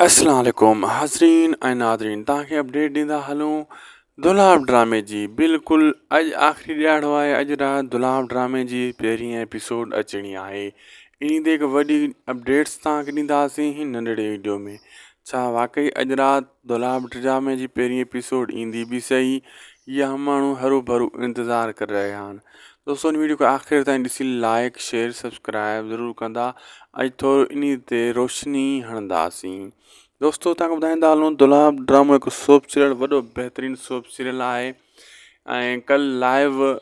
اسلام عليڪم حاضرين ۽ ناظرين توهان کي اپڊيٽ ڏيندا هلون دولاب ڊرامي جي بلڪل اڄ آخري ڏياڙو آهي اڄ رات دولاب ڊرامي جي پهرين ايپيسوڊ اچڻي آهي انهي تي هڪ وڏي اپڊيٽس توهان کي ڏينداسين هن ننڍڙي ويڊيو ۾ ڇا واقعي اڄ رات دولاب ڊرامي جي پهرين ايپيسوڊ ايندي به سهي يا ماڻهو هرو ڀرو انتظار ڪري رهيا آهن دوستو ان ويڊيو کي آخر تائين ڏسي لائيڪ شيئر سبسڪرائب ضرور ڪندا اڄ ٿورو ان تي روشني هڻنداسين دوستو تان ٻڌائيندا هلون دلاب ڊرامو هڪ سوپ سيريل وڏو بهترين سوپ سيريل آهي ۽ کل لائيو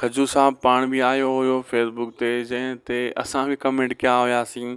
کجو صاحب پاڻ به آيو هيو فيسبوڪ تي جنهن تي اسان به ڪمينٽ ڪيا هياسين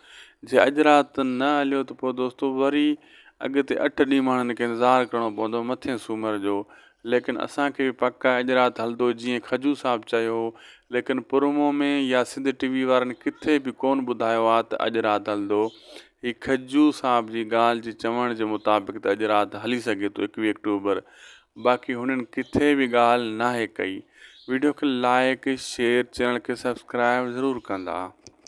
جي اڄ رات نه هليو ته پوء دوستو وري اڳتي اٺ ڏينهن ماڻهن کي انتظار ڪرڻو پوندو مٿين سومر جو. ليڪن اسان کي به پڪ آهي اڄ رات هلندو جيئن کجو صاحب چيو هو ليڪن پرومو ۾ يا سنڌ ٽي وي وارن ڪٿي به ڪون ٻڌايو آهي ته اڄ رات هلندو. هي کجو صاحب جي ڳالهه جي چوڻ جي مطابق ته اڄ رات هلي سگهي ٿو ايڪويهه اڪٽوبر باقي هنن ڪٿي به ڳالهه ناهي ڪئي. ويڊيو کي لائيڪ شيئر چينل کي سبسڪرائيب ضرور ڪندا.